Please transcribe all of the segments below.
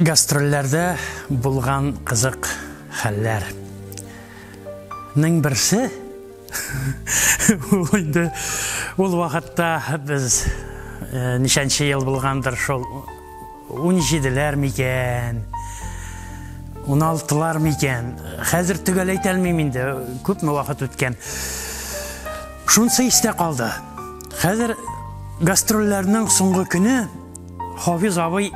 Гастрольләрдә булган кызык хәлләр. Ның берсе ул инде ул вакытта без э, ничәнче ел булгандыр шул 17ләр микән 16лар микән хәзер төгәл әйтә алмыйм инде күпме вакыт үткән шунысы истә калды хәзер гастрольләрнең соңгы көне Хафиз абый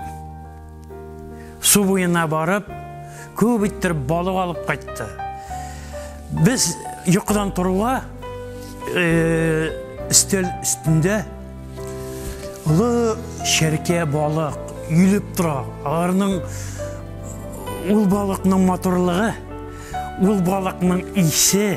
су буена барып, күп иттереп балык алып кайтты. Без йокыдан торуга э, өстәл өстендә олы шәркә балык йөлеп тора. Аларның ул балыкның матурлыгы, ул балыкның исе,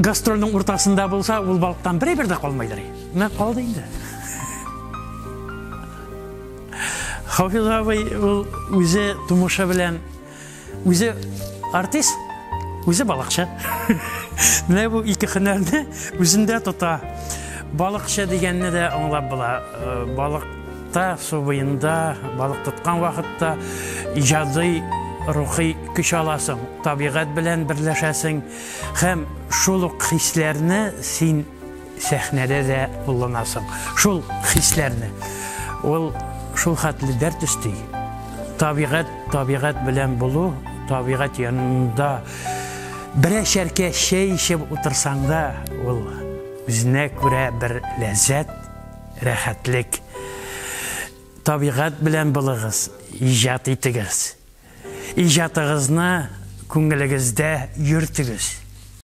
Гастрольнең уртасында булса, ул балыктан бер әйбер дә калмайдыр. Менә калды инде. Хафиз абый ул үзе тумышы белән үзе артист, үзе балыкчы. Менә бу ике хөнәрне үзендә тота. Балыкчы дигәнне дә аңлап була. Э, балыкта, су буенда, балык тоткан вакытта иҗади рухи көч аласың, табигать белән берләшәсең. Һәм шул ук хисләрне син сәхнәдә дә кулланасың. Шул хисләрне. Ул шул хәтле дәрт өсти. Табигать, табигать белән булу, табигать янында берәшәркә чәй эчеп утырсаң да, ул үзенә күрә бер ләззәт, рәхәтлек. Табигать белән булыгыз, иҗат итегез. Иҗатыгызны күңелегездә йөртегез!